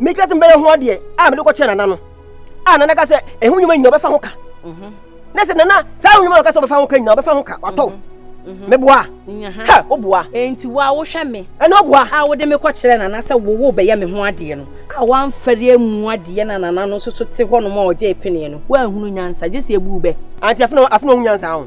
meka sɛ mebɛyɛ ho adeɛ a mede kɔkyerɛ nana no a nana ka sɛ ɛho nnwuma nyina ɔbɛfa ho ka mhm. na sɛ nana saa ho nnwuma na ɔka sɛ ɔbɛfa ho ka nyina ɔbɛfa ho ka watɔ mhm. mhm. meboa ha woboa enti wo a wohwɛ me ɛne woboa a wode me kɔkyerɛ nana sɛ wowo bɛyɛ me ho adeɛ no a woamfɛre amu adeɛ na nana no nso so te hɔ nom a ɔgye peneɛ no woanhunu nyansa gye sɛ ɛbu bɛ anti afena ho nyansa ho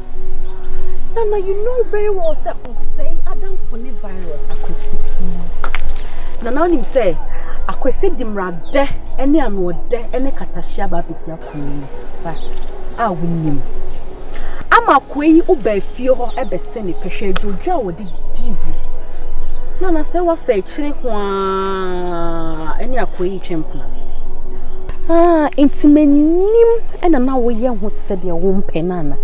Nana you know very well sɛ ɔsɛe adamfo ne virus akwasi nana wonim sɛ akwasi de mmeradɛ ne anoɔdɛ ne katahyia ba abɛpia kunu ba a wonim ama akoa yi woba fie hɔ bɛsɛ ne pɛhwɛ adwodwo a wɔde di bu. Na na sɛ wafa akyire ho ara ɛne akɔyi retwa mpena. Ah, nti m'anim ɛna na woyɛ ho te sɛ deɛ wompɛ no ana?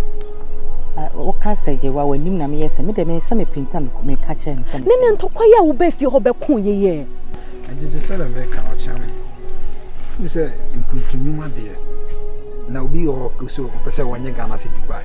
woka sɛ gye wa w'anim na meyɛ sɛ me dɛ me sɛ mepinta meka kyerɛ no sɛ ne ne ntɔkwa yɛ a wobɛ fie hɔ bɛko yɛyɛ agye te sɛ dɛ meka ɔkyea me ne sɛ nkuntunwuma deɛ na obi wɔ hɔ sɛ ɔpɛ sɛ wɔnyɛ Ghana sɛ Dubai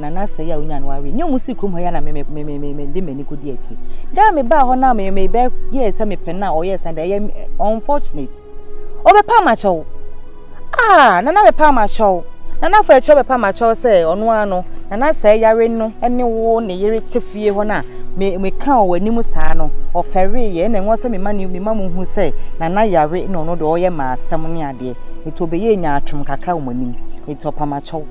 na n'asɛe a onyaa no awie. Nea wɔn sii kurom hɔ yi na me me me me me mede m'ani kodi akyiri. Da a mebaa hɔ na me me bɛ yɛ sɛ mepɛ no a ɔyɛ sɛ ɛyɛ unfortunate. Ɔbɛpa amakyɛw. Ah, nana bɛpa amakyɛw. Nana afɔ ɛkyerɛ bɛpa amakyɛw sɛ ɔno ara no na n'asɛe yare no ne wo ne yere te fie hɔ no a me me ka wɔ anim saa no ɔfɛree yɛ na ɛwɔ sɛ mema ne mema mo hu sɛ nana yare na ɔno deɛ ɔyɛ maa asɛm ne adeɛ. Nti ɔbɛyɛ nyaatwom kakra wɔ mo anim. Nti ɔpamakyɛw.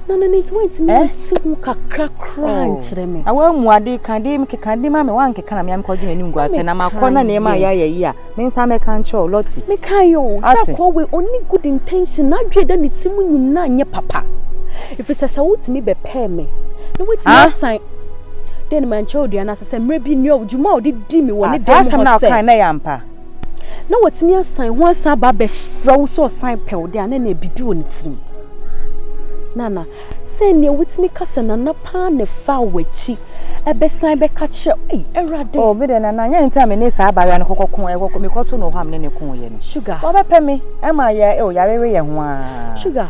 na no ne nti wantumi eh? nti ho kakra koraa oh. nkyerɛ me na woamu ade ka de mekeka de ma me woankeka na mea mekɔgye m'anim gu asɛ na makɔ na nneɛma a yɛayɛ yi a me nsa mɛka nkyerɛ wo lɔte mekae o sɛ kɔwe ɔne good intention na adwene da ne ti mu nyinaa nyɛ papa ɛfiri sɛ sɛ wotumi bɛpɛɛ me na woatumi ah? asan dɛn ne mankyerɛ odua no ase sɛ mmerɛ bi nnuadwuma a ɔde di me wɔ ne ah, dɛm hɔ sɛ na watumi asan ho asan aba abɛfrɛ wo sɛ ɔsan pɛ wo de a na na biribi wɔ ne tirim nana sɛ nea wotumi ka sɛ nana paa na fa w'akyi ɛbɛsan bɛka kyerɛ ei awurade o me de nana nyɛ nti a me ne saa abayewa no kɔkɔ ko ɛkɔkɔ me kɔto no hɔ a me ne ne ko yɛ no sugar wɔbɛpɛ me ɛma yɛ o yare we yɛ ho a sugar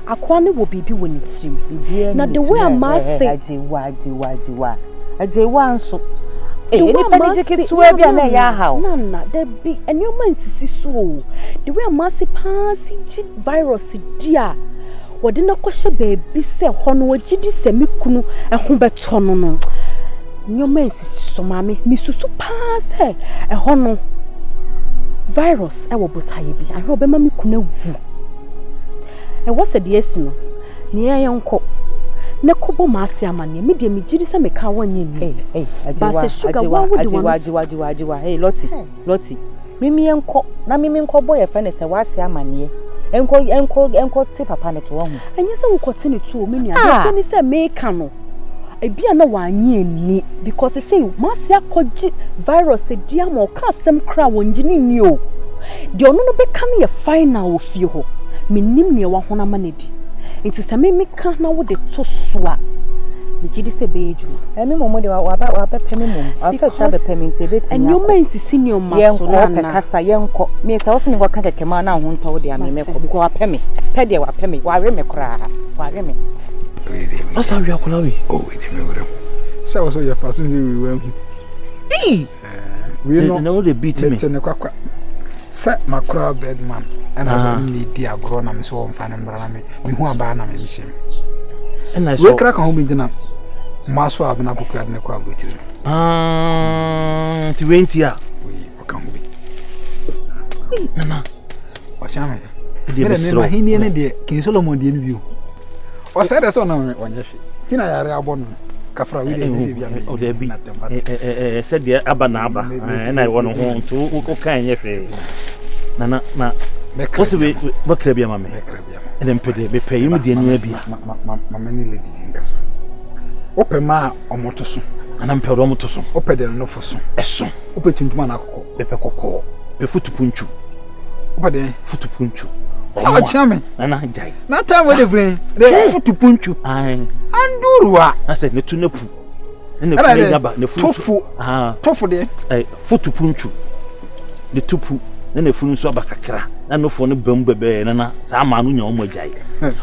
Akoa no wɔ biribi wɔ ne tirim. Biribiara nni ne tirim. Ɛɛ ɛɛ Agyewa Agyewa Agyewa Agyewa nso. Ee nnipa no gye ketewa bi a na ɛyɛ aha o. Nana dabi nneɛma nsisi so o. The way a m'ase paa si gye virus di a wɔde no akɔhyɛ baabi sɛ hɔ no wɔgye di sɛ me kunu ho bɛtɔ no no nneɛma nsisi so maame mesusu paa sɛ ɛhɔ no virus wɔ botaeɛ bi ahwɛ ɔbɛma me kunu awu. Ɛwɔ sɛ deɛ asi no, nea ɛyɛ nkɔ na kɔbɔ m'ase amanneɛ. Me deɛ megye di sɛ meka wo nyɛ ni. Ba sɛ sugar wo a wode wɔn. Agyewa, agyewa, agyewa, hey, Lottie, Lottie. Mimi nkɔ na mimi nkɔ bɔ yɛfrɛ no sɛ w'ase amanneɛ. Nkɔ, nkɔ, nkɔ te papa no to wɔ ho. Ɛnyɛ sɛ wokɔ te ne to o, me nua. Deɛ ɛteɛ ne sɛ meka no. Ebia na wannye anni because sesei Marcy akɔgye virus adi ama ɔka asɛm koraa wɔngye no nni o. Deɛ ɔno no bɛka no yɛ final wɔ fie hɔ. Mennim nea wahono ama no adi. Nti sɛ me meka na wode to so a, megye di sɛ ɛbɛyɛ adwuma. Ɛmi mmom de waba wabɛpɛ me mmom. Afɛ kyerɛ abɛpɛ me nti ɛbɛtumi akɔ. Nneɛma nsisi nneɛma so Yɛnkɔ nana. ɔpɛ kasa yɛnkɔ. Me sɛ ɔsɛ me nkɔka kɛkɛ maa na ho ntɔ wo deɛ a me mɛkɔ Mate. because wapɛ me. Pɛ deɛ wapɛ me. Wawe me koraa. Wawe me. ɔsa awi akɔla wi. o oh, ɛdi mi wura mu. sɛ wɔ so yɛ fa so nyi wi wa hu. ii wei no mete ne kwakwa sɛ makora birdman ɛna sɛ ɔne ne di agorɔ na me sɛ ɔmfa no mmra na me mehu abaa na memhyɛ mu wei kra ka ho bi gyina mmoa so a bena kokoa de ne kɔ aburokyiri no nti wei nti a Ɔka ho bi. Ei, Nana, ɔkyɛ me. Ɛdeɛ bɛsrɛ wo. Ahenni no deɛ, King Solomon deɛ no bio. Ɔsɛe dɛ sɛ ɔnam me, ɔnyɛ hwɛ. Ti na yare abɔ no. Kafra wei deɛ, ɛnyɛ sɛ bia me. Ɔda bi, sɛ deɛ aba na aba. Ɛna ɛwɔ no ho, nti woka ɛnyɛ hwee. Nana, na, wosɛ bɛkra bi ama me. Ɛnɛ mpe deɛ mepɛ yi mu deɛ ni abia. Mama ne lady bi nkasa. Wopɛ ma a ɔmo to so. Ana mpɛ ɔmo to so. Wopɛ deɛ no fo so. Ɛso. Wopɛ tuntum ana kɔkɔ. Mepɛ kɔkɔɔ. Pɛ futu punchu. Wopɛ deɛ futu punchu. Ɔmo a. Ɔkyea me. Nana gyae. Na time wo de vren. De futu punchu. Ae. Anduru a. Asɛ ne tu ne pu. ɛna funu anya ba na funu nso tofo deɛ ɛɛ foto puntu ne tupu na na funu nso aba kakra na nofo no bɛn mu bɛbɛɛ na na saa maa no nya wɔn agya yi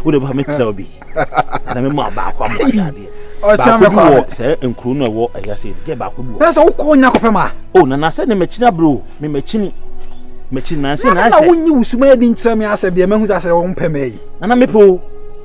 wo de bɛfa mi tẹrɛ bi ɛna mi maa baako ama ɔyɛ adeɛ baako bi wɔ sɛ nkuro no ɛwɔ ɛyɛ sɛ ɛdi baako bi wɔ. na sɛ wokɔ onya kɔpɛ ma. o na na sɛ ne mɛkyini aburo mi mɛkyini mɛkyini na sɛ na sɛ. na na wonyi wusuma yɛ di nkyerɛ mi asɛ deɛ mɛhu sɛ asɛ wɔn pɛ mɛ yi. na na mepɛ o.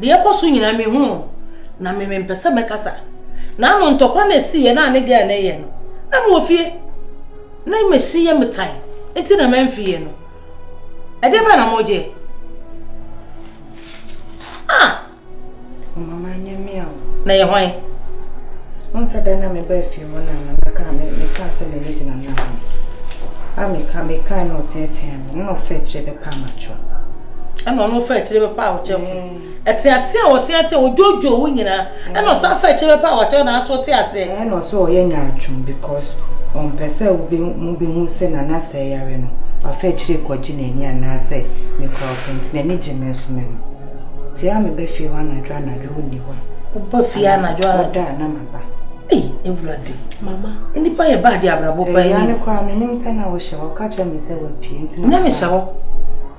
Deɛ ɛkɔ so nyinaa me hu no na me me mpɛ sɛ mɛkasa na ano ntɔkwa na esi yɛ na ne gɛɛ na ɛyɛ no na me wɔ fie na me si yɛ me tan nti na mɛ nfi yɛ no ɛdeɛ bɛn na mo gye ah mama nyɛ mia o na yɛ hwan wɔn sɛ dɛn na me bɛ fie hɔ na na mɛka me meka sɛ me ne gyina na ho a meka meka na ɔteɛteɛ Nna ɔfa ekyir bɛpɛ amatwo. Nna ɔno ɔfa ekyir bɛpɛ aɔkyɛfo. Ɛtseatse a ɔtseatse a odwodwo wo nyina. Nna ɔsan fa ekyir bɛpɛ aɔkyɛfo naaso ɔtse ase. Nna ɔsɛ ɔyɛ nyaatwom because ɔmmpɛ sɛ wobehu sɛ Nana sɛɛ yare no, ɔafa ekyir ekɔgye n'enyi anaasɛ mekura ɔpɛ ntsi n'enyi gye me so me no. Ntsi a meba fie hɔ anadwo anadwo onnyi hɔ a. Woba fie anadwo anadwo. Ɔda a na maba. Ei, Awurade. Mama. Nnipa yɛ baa de abrabɔ pa yi. Sɛ koraa menim sɛ na wohyɛ hɔ ka kyerɛ me sɛ wapue nti na. Na mehyɛ hɔ.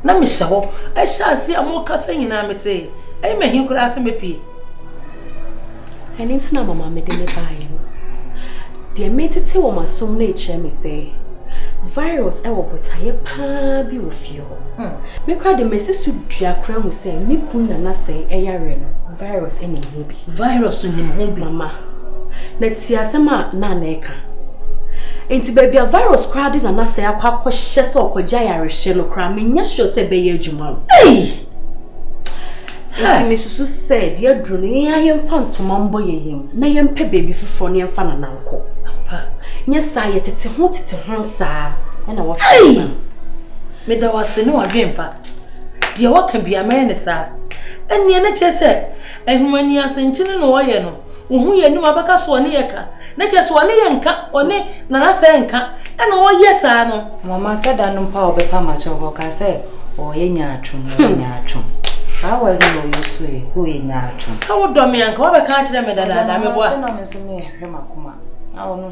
Na mehyɛ hɔ. Ɛhyɛ ase a mokasa nyinaa mete. Ɛyɛ me hin koraa sɛ mepue. Ɛne nti na mama mede ne baeɛ no. Deɛ metete wɔ m'asom no kyerɛ me sɛ virus wɔ botaeɛ paa bi wɔ fie. Me koraa de masi so dua koraa hu sɛ me kun na n'asɛe yareɛ no virus nim ho bi. Virus nim ho bi mama na tie asɛm a na na ɛka. Nti baabi a virus koraa de na n'asɛe akɔ akɔhyɛ sɛ ɔkɔgya yarehwɛ no koraa menyɛ sure sɛ ɛbɛyɛ adwuma o. Ei! Nti mesusu sɛ deɛ aduru no yɛn a yɛmfa ntoma mbɔ yɛn yam na yɛmpɛ baabi foforɔ na yɛmfa nana nkɔ nyɛ saa yɛ tete ho tete ho saa ɛna wɔhwɛ meda wase ne wadwen pa deɛ waka bia mɛyɛ ne saa ɛneɛ ne kyɛ sɛ ahumani asɛnkyene na wɔyɛ no wohu yɛn anim abɛka so ɔne yɛ ka na kyerɛ sɛ ɔne yɛ nka ɔne nanasɛ nka ɛna ɔyɛ saa no. Mama sɛ da no mpa a ɔbɛpa makyɛ hɔ ka sɛ ɔyɛ nyaatwom ɔyɛ hmm. nyaatwom saa wɔ ɛno na ɔyɛ so yɛ sɛ ɔyɛ nyaatwom. sɛ wodɔ me anka wabɛka akyerɛ me dadaada meboa. sɛ na me nso mehwɛ makoma na ɔno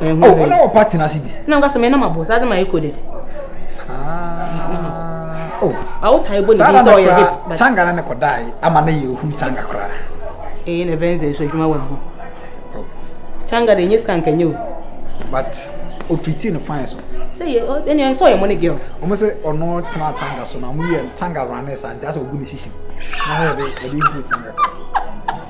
ɛho oh, na wɔpa tena ase bi na nka sɛ mena mabɔ saa de ma ɛkɔ dɛ ah, oh. awotae bɔ ne bi sɛ ɔyɛ hip kyanga no ne kɔdae ama no yɛ ɔhuru kyanga koraa ɛyɛ na ɛbɛn sɛ ɛso adwuma wɔ ne ho kyanga de ɛnyɛ sika nkanyɛ o but ɔtriti no fine so sɛ yɛ ɛne ɛsɛ ɔyɛ mɔne girl ɔmo sɛ ɔno tena kyanga so na ɔmo yɛ kyanga rane saa nti asɛ ɔgu ne sisi na ɔyɛ de ɛde nkuru kyanga